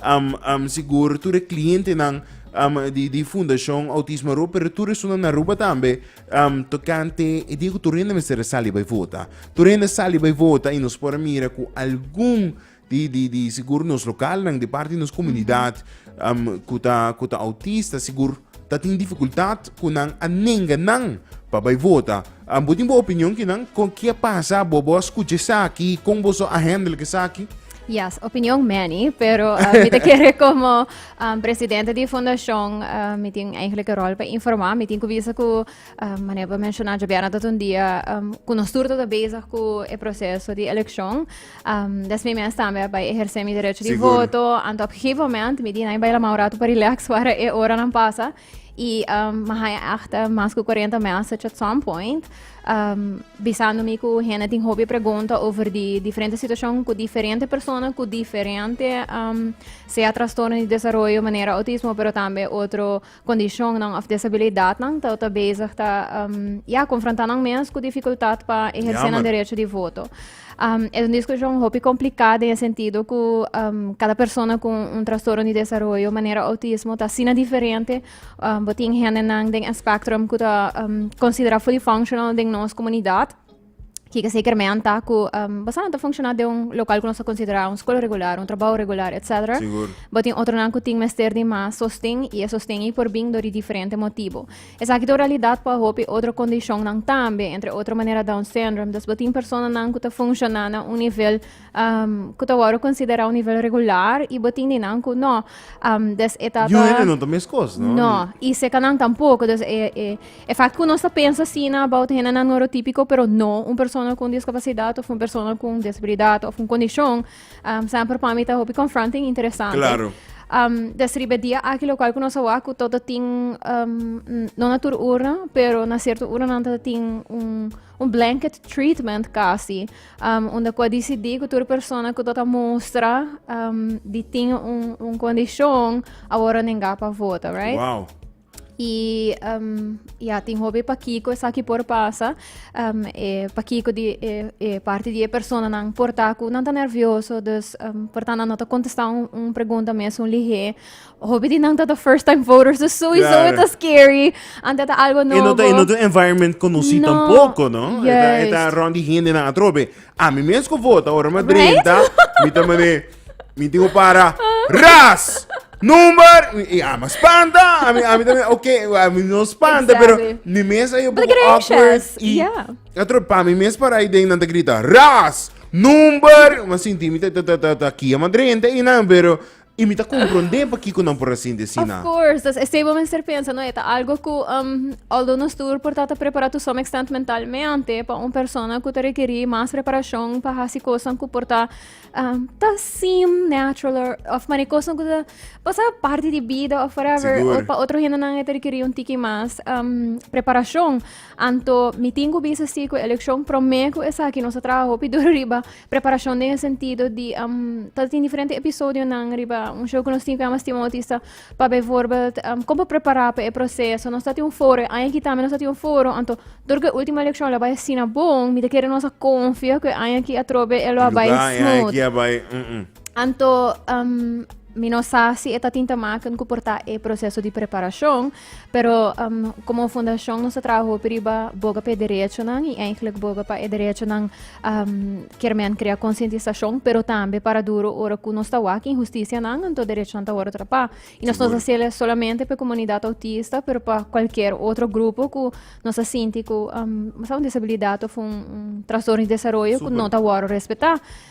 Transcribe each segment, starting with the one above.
Am am sigur tur e clientenan am di di Fundacion Autismo Aruba, pero tur esunnan na Aruba tambe am tocante e dia cu tur hende mester a sali bay vota. Tur hende a sali bay vota y nos por a mira cu algun di di di sigur nos localnan di parti di nos comunidad am cu ta cu ta autista sigur ta tin dificultad cu nan a nenga nan pa bay vota. An bo tin bo opinion kinan con ki a pasa? Bo bo a scucha esaki? Con boso a handle esaki? Yes, opinion many, pero uh, mi te kere como um, presidente di fundacion, uh, mi tin eigenlijk rol pa informa, mi tin ku bisa ku Uh, mane pa mencionar, Jabiana tot un dia um, cu nos tur tot bezig cu e proceso di eleccion. Um, des mi mes tambe bij ejercer mi derecho di voto. En op gegeven moment, mi dina bij la maurato para relax, waar e ora nan pasa. I um, ma hai achter mas cu 40 mensen at some point. Um, bisando mi cu hene tin hobby pregunta over di diferente situacion cu diferente persona cu diferente um, sea trastorno di desarrollo manera autismo pero tambe otro condicionnan of desabilidadnan ta ta bezig ta um, ja confronta nan mens cu dificultad pa ejercer nan derecho di voto. Um, es un discussión hopi complicada en el sentido que um, cada persona con un trastorno de desarrollo, manera autismo, ta sina diferente. Um, botin gente nan den spectrum que ta um, considera fully functional den nos comunidad. Kiko a seker mean ta ku um, boso nan ta funciona de un local ku nos a considera un school regular, un trabajo regular, etc. Sigur. Bo tin otro nan ku tin mester di mas sosten y e sosten i por bin dori diferente motivo. Esa ki to realidad pa hopi otro condition nan tambe, entre otro manera Down syndrome. Dus bo tin persona nan ku ta funciona na un nivel um, ku ta wòrdu konsiderá un nivel regular i bo tin di nan ku no um, des e ta Jun hende no ta mes kos, no? No, i seka nan tampoco. Dus e, e, e fact ku nos ta pensa sina about hende nan neurotípico, pero no un persona con discapacidad of un persona con disabilidad of un condición, um, sempre pa mi ta hopi confronting, interesante. Claro. Um, dus riba dia aki lo cual ku nos awa ku todo tin, um, n- no na tur ura, pero na cierto ura nan ta tin un un blanket treatment casi, um, unda cu a decidi cu tur persona cu ta mostra um, di tin un, un condicion, ahora nenga pa vota, right? Wow. Y um, ya tin hobi pa kiko esa ki por pasa, um, eh, pa kiko di eh, eh, parte di e persona nan porta cu nan ta nervioso, dus um, porta nan no ta contesta un, un pregunta mes un lihe, Hopi di nan tata first time voters, dus sowieso Claro. e ta scary. An tata algo E nobo. no ta, e no ta un environment conocí No, tampoco, no? E ta, e ta juist. rond di hende nan atrobe. A mi mes cu vota, ora mi a Right? drenta, mi ta mane, mi tin cu para, ras! Number! Mi- I a mi a spanta, a mi, a mi ta mane, ok, a mi no spanta, pero Exactly. mi mes a yo But poco get awkward. anxious, I, yeah. atrobe, pa mi mes para i den, nan ta grita, ras! Number! Ma sinti mi ta, ta, ta, ta, ta kia mi a drenta i nan, pero Y mi ta compronde pakico nan por a sinti asina. Of course, tas esey bo mester pensa, no? E ta algo cu, um, although nos tur por trata prepara to some extent mentalmente, pa un persona cu ta requeri mas preparacion pa haci cosnan cu por ta, um, ta seem natural or, of mane cosnan cu ta, bo sabi, parti di bida of whatever. Sigur. Of pa otro hendenan e ta requeri un tiki mas, um, preparacion. Anto mi tin ku bisa si ku elekshon promé ku esaki nos a traha hopi duru riba preparashon den e sentido di um, ta tin diferente episodionan riba un show ku nos tin ku yamas Timotista pa bijvoorbeeld um, kon pa prepará pa e proseso nos ta tin un foro e aña kita mi nos ta tin un foro anto dor ku e último elekshon lo bai asina bon mi ta kere nos a konfia ku e aña ki atrobe e lo a bai Lugar, ja, smooth. aquí a bai. mm, mm. Anto um, mi no sa si e ta tin te maken ku por ta e proseso di preparashon Pero um, como fundación nos trabaja hopi riba boga pe derechonan y eigenlijk boga pa e derechonan um, quier men crea conscientización, pero tambe para duro ora cu nos tawa que injusticia nan en to derechonan ta worden trapa. Y nos nos hacerle solamente pe comunidad autista, pero pa cualquier otro grupo cu nos sinti cu um, sa un disabilidad of un, un trastorno de desarrollo cu no ta worden respeta.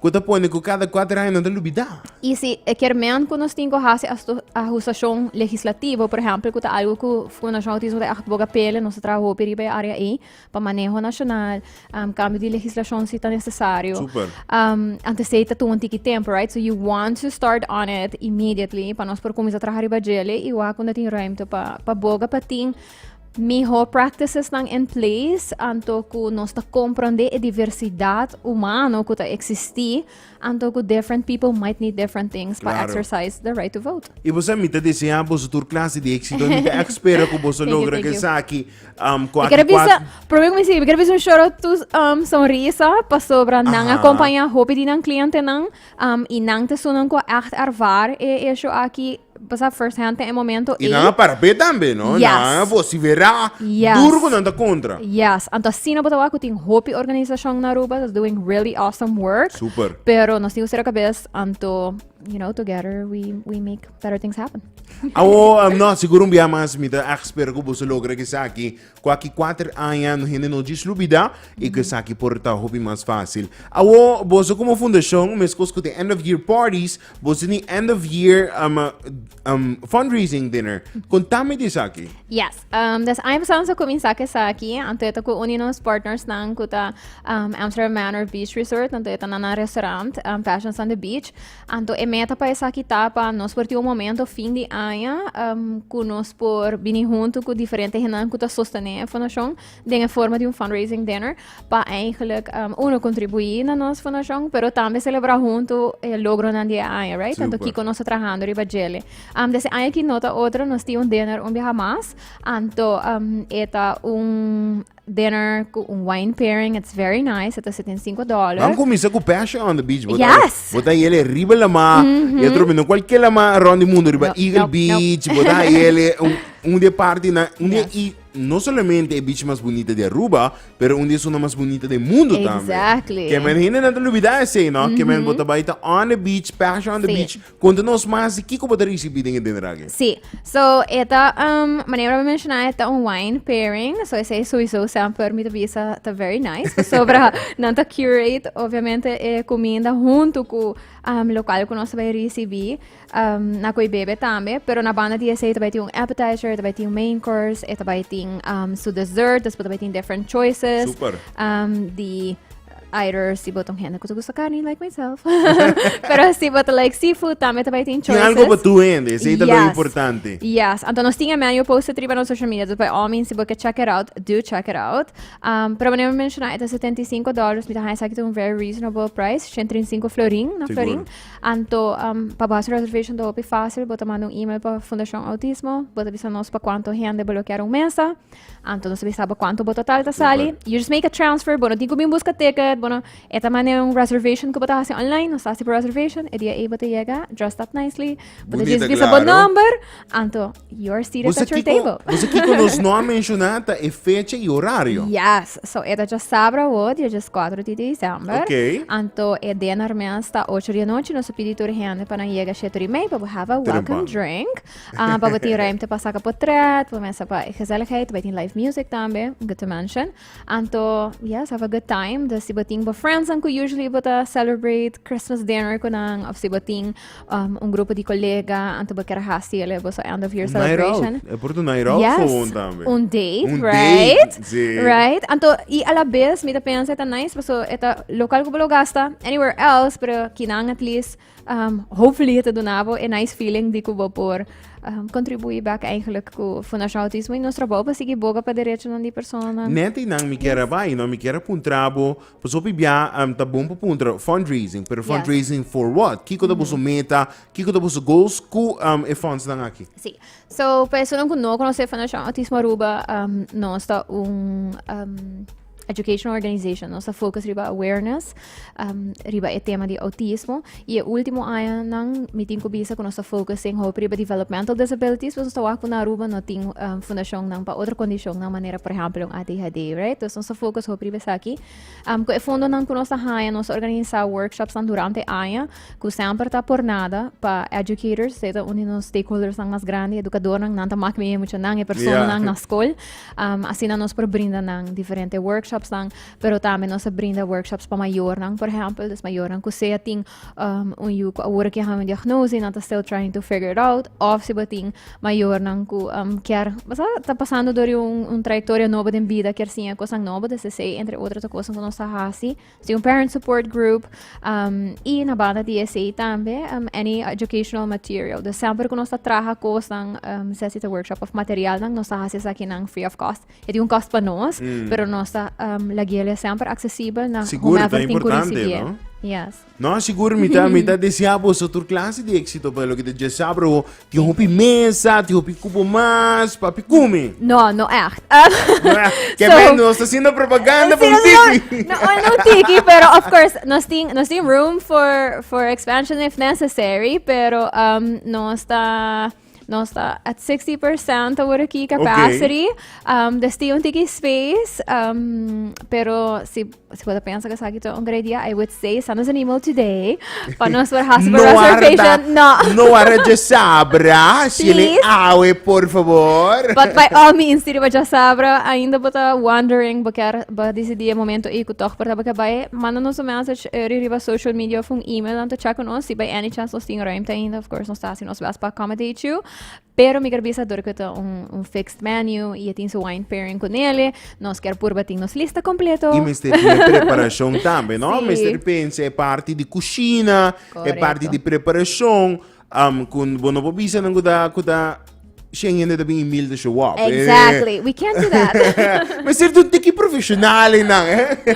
Cu ta pone cu cada cuater aña nan ta lubida. Y si e kermen cu nos tin cu haci ahusacion legislativo, por ehempel, cu ta algo cu Fundacion Autismo ta adboga pele, nos ta traha hopi riba e area ey, pa maneho nacional, um, cambio di legislacion si ta necesario. Super. Um, antes ey ta tuman tiki tempo, right? So you want to start on it immediately, pa nos por cuminsa traha riba djele y waha cu nan tin ruimte pa, pa boga pa tin Mihó practicesnan en place anto ku nos ta komprondé e diversidat humano ku ta eksistí anto ku different people might need different things pa Klaro. exercise the right to vote. Y vos a mi ta desea boso tur clase di éxito. Mi ta espera cu boso Thank you, logra thank que you. saki. Um, cu Mi quiere aki bisa, cuat- probeer con mi sí, mi quiere bisa un shout out to um, Sonrisa, pasobra nan Ajá. acompaña hopi di nan clientenan. Um, y nan ta sunan cu echt ervar e issue aki, pasa first hand ten e momento Y e. nan a parpe tambe, no? Yes. Nan a vociferá Yes. duro cu nan ta contra. Yes, anto asina bo ta wak cu tin hopi organisacion na Aruba that's doing really awesome work. Super. Pero nos tin usted cabez, anto, you know, together we, we make better things happen. Awo, um, no, seguro un bia mas mi ta echt spera cu boso logra kisaki. Cu aki cuater aña nos hende no djis lubida y cu esaki por ta hopi mas facil. Awo, boso como fundacion, mescos cu tin end of year parties, boso tin di end of year um, um, fundraising dinner. Contami di esaki. Yes, um, des aña pasado nos a cuminsa cu esaki, anto e ta cu uni nos partnersnan cu ta um, Amsterdam Manor Beach Resort, anto e ta na nan restaurant, um, Fashions on the Beach. Anto e meta pa esaki ta pa nos por tin un momento fin di aña um, ku nos por bini huntu ku diferente henan ku ta sostené e fondashon den e forma di un fundraising dinner pa eigenlijk um, uno kontribuí na nos fondashon pero tambe celebra huntu e logronan di e aña, right? Tanto Super. kiko nos ta trabajando riba jele. Um, dese aña ki nota otro nos tin un dinner un biaha mas, anto um, eta un dinner cu un wine pairing. It's very nice. Het is in 5 dollar. Dan comienza con Passion on the Beach. Bota, yes. Bota yele riba la ma. Mm -hmm. Yetro no cualquier la ma around the mundo. Riba no, Eagle no, Beach. No. Bota yele un, un de party na un yes. de no solamente el beach más bonito de Aruba, pero un de zona más bonita del mundo exactly. también. Que men hinde na te olvidar ese, no? Mm -hmm. Que men bota baita on the beach, passion on the sí. beach. Konta nos mas di kiko bo ta risibí den e diner aki. Sí, so e ta, um, manera mi mencioná, e ta un wine pairing, so esei sowieso semper mi ta bisa ta very nice, pasobra nan ta curate obviamente e kuminda huntu ku um, lokal ku nos ta bai risibí um, na ku e bebe tambe, pero na banda di esei ta bai tin un appetizer, ta bai tin main course, e ta bai tin um, su dessert, despues ta bai tin different choices Super. um, di Either si bo ta un hende ku ta gusta karni, like myself. Pero si bo ta like seafood, tambe ta bai tin Tin choices. algo pa tu hende, ese ta lo Yes. importante. Yes, anto nos tin e menu post triba nos social media. Dus bai all means, si bo ke check it out, do check it out. Um, pero wanneer we mencionar, eta 75 dollars, mi ta hain saki ta un very reasonable price, 135 florin, na Seguro. florin. Anto, um, pa bo haci reservation ta hopi fácil, bo ta manda un email pa Fundación Autismo, bo ta bisa nos pa cuanto hende bo lo kier un mesa. Anto nos sabi saba cuánto bo total ta sali. Super. You just make a transfer, bo no tin kumin busca ticket, bo no... Eta mane un reservation ku bo ta hasi online, nos hasi bo reservation, e dia ei bo ta yega, dressed up nicely, bo ta Bonita, just bisa bo claro. number, anto you're seated Busa at your kiko, table. busa kiko nos no a mencioná ta e fecha y horario. Yes, so eta just sabra wo, dia just 4 di december. Oké. Anto e dinner mes ta ocho di anochi, nos a pidi tur hende pa nan yega shetori mei, pa bo have a Tur en welcome pan. drink. Ah, pa botin ruimte pa saca portret, pa mesa pa gezelligheid, botin live music tambe, good to mention. Anto, yes, have a good time. Dus si botin bo friends and ku usually bota celebrate Christmas dinner ku nan, of si botin um, un grupo di collega, anto bo kera hasi ele bo so end of year celebration. Night out, e porto night out yes, un tambe. Un date, un right? Date, sí. Right? Anto, i a la vez, mi te pensa eta nice, so eta local ku bo lo gasta, anywhere else, pero kinan at least, Um, hopefully het dona bo e nice feeling di ku bo por um, contribui back eigenlijk ku Fundación Autismo y nos trabajo pa sigi boga pa derecho nan di persona. Net y nan mi kera yes. bai, no mi kera puntra bo, paso pi bia um, ta bon pa puntra fundraising, pero fundraising yes. for what? Kiko mm -hmm. ta boso meta, kiko ta boso goals ku um, e funds nan aki? Sí. So, pa esonan ku no konosé Fundashon Autismo Aruba, um, nos ta un um, educational organization, nos ta focus riba awareness, um, riba e tema di autismo. I e último año nan, mi tin ku bisa ku nos ta focus en hoop riba developmental disabilities, pues nos ta wak ku na Aruba no tin um, fundashon nan pa otro kondishon nan, manera por ejemplo un ADHD, right? Pues nos ta focus hoop riba esaki. Um, ku e fondo nan ku nos ta haya, nos ta organisa workshops nan durante año, ku semper ta por nada pa educators se ta un di nos stakeholdersnan mas grandi edukadornan nan ta mak mi e muchanan e personanan na skol um, asina nos por brinda nan diferente workshopsnan pero tambe nos a brinda workshops pa mayornan por ejemplo dus mayornan ku sea tin um, un yu ku awor ke han un diagnosi nan ta still trying to figure it out of si batin mayornan ku um, kier basa ta pasando dori un, un trayectoria nobo den vida kier siña kosan nobo desde sei entre otro ta kosan ku nos ta hasi di un parent support group y na banda di esey tambe any educational material dus semper cu nos ta traha cosnan sea si ta workshop of materialnan nos ta haci esakinan free of cost e di un cost pa nos pero nos ta laguelia semper accesibel na Sigur, ta whomever tin cu importante, recibi e. no? yes No, sigur, mi ta, mi ta desea boso tur clase di éxito, pero lo que te dje sabro, Tin hopi mesa, tin hopi kupo mas, papi kumi. No, no echt. Kijk, so, men, nos haciendo propaganda voor tiki. No, oh, no tiki, pero of course, nos tin, nos tin room for, for expansion if necessary, pero um, nos ta... Nos está at 60% agora aqui capacity. Okay. Um, desti um tiki space, um, pero si Si bo ta pensa que esaki un great idea, I would say send us an email today pa nos por hacer no reservation. No. No hará ya sabra. Si ele awe, por favor. But by all means, tiri ya sabra. Ainda bo ta wondering, bo quer, bo decidi e momento i ku toch por ta boke bai. Manda nos un message eri riba social media of un email dan ta check nos si by any chance nos tin ruimte ainda. Of course, nos ta hasi nos best pa accommodate you. Pero mi ker bisa tur ku ta un, un fixed menu i e tin su wine pairing ku nele. Nos ker purba tin nos lista kompleto. I mester tin e preparashon tambe, no? Sí. Mester pensa e parti di kushina, e Correcto. parti di preparashon, am, ku bo no por bisa nan ku ta, ku ta, shen hende ta bin imilde show-off. eh. Exactly. We can't do that. Mester dun tiki profesional e nan, eh?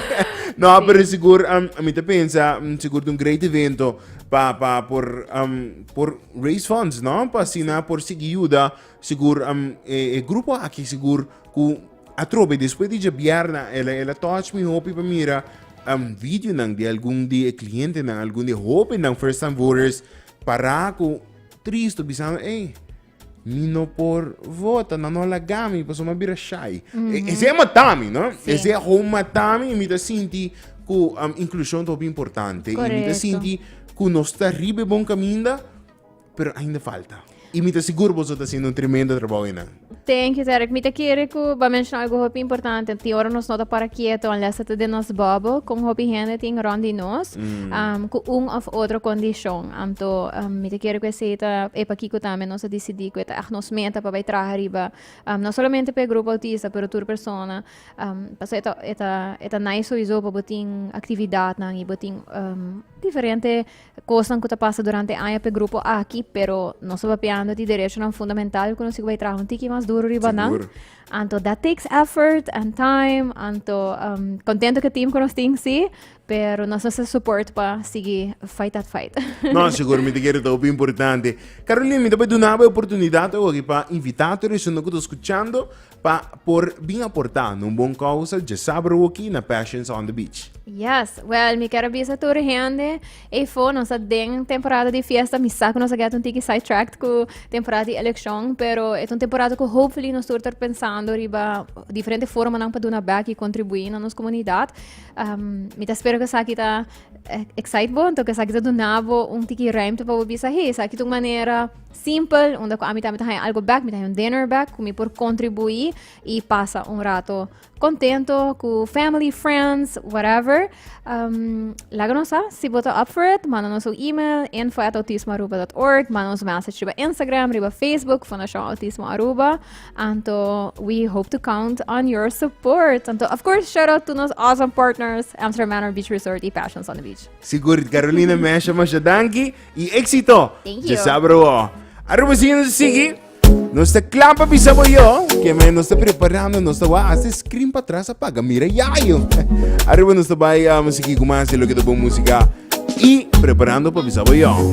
No, pero sigur, am, mi ta pensa, mm, sigur dun great evento pa, pa por, am, por raise funds no pa asina por sigui yuda sigur um, e, e grupo aki sigur ku atrobe después di jabierna ela ela touch mi hopi pa mira um, video nan di algun di e cliente nan algun di hopi nan first time voters para ku tristo bisando ei Mi no por vota, na no lagami, paso ma bira shai. Mm -hmm. Ese a matami, no? Sí. Ese a hou matami y mi ta sinti cu um, inclusión ta importante. Correcto. Y mi ta sinti cu no sta ribe bon caminda, pero ainda falta. Y mi ta seguro boso ta haciendo un tremendo trabajo en Thank you, Derek. Mi ta kere ku ba menshon algo hopi importante. Ti ora nos nota para kieto, unless het de nos bubble, kon hopi hende tin rondi nos, mm. um, ku un of otro kondishon. Anto mi ta kere ku esei ta e pa kiko tambe nos a disidí ku e ta ach nos meta pa bai traha riba no solamente pa e grupo autista pero tur persona paso e ta e ta e ta nice souizo pa bo tin aktividatnan i bo tin diferente kosnan ku ta pasa durante e aña pa e grupo aki pero nos ta papiando di derechonan fundamental ku nos tin ku bai traha un tiki mas duru riba nan anto dat takes effort and time anto kontento ke tim ku nos tin si Pero nos a ser support pa sigui fight dat fight. no, seguro mi te quiero todo importante. Carolina, mi te donaba oportunidad hoy pa invitar todo eso no que está escuchando pa por bien aportar un bon causa, ya saber aquí na Passions on the Beach. Yes, well, mi quiero avisar todo gente, e fo nos den temporada de fiesta, mi saco nos get un tiki sidetracked cu temporada de elección, pero es un temporada que hopefully nos estar pensando riba diferente forma nan pa duna back y contribuir na nos comunidad. Um, mi ta spero que saki ta eh, excite bo, então que saki ta duna bo um tiki ruimte para bobi sa hey, saki tu maneira simpel, onde com a mi também tá algo back, mi tá um dinner back, com mi por contribuir e passa um rato contento com family, friends, whatever. Um, laga nos a, se bota up for it, manda nos um e-mail, info at autismoaruba.org, manda nos message riba Instagram, riba Facebook, Fundação Autismo Aruba. Anto we hope to count on your support. Anto of course shout out to nos awesome partners Amsterdam Manor Beach Resort y Passions on the Beach. Sigur Carolina Mesha Masha Danki y éxito. Thank you. Sabro. Aruba siguiendo sigui. Nos te clapa pisabo yo. Que me nos te preparando nos te va a hacer screen para atrás apaga mira yayo. Aruba nos te vaya a music y lo que te música y preparando para pisabo yo.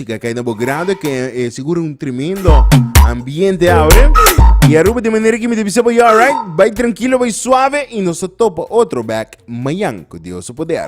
Tika kai na bo grado ke eh, sigur un tremendo ambiente awe. Y Aruba de manera que me debe saber, alright, vai tranquilo, vai suave y nos topa otro back mañana con Dios su poder.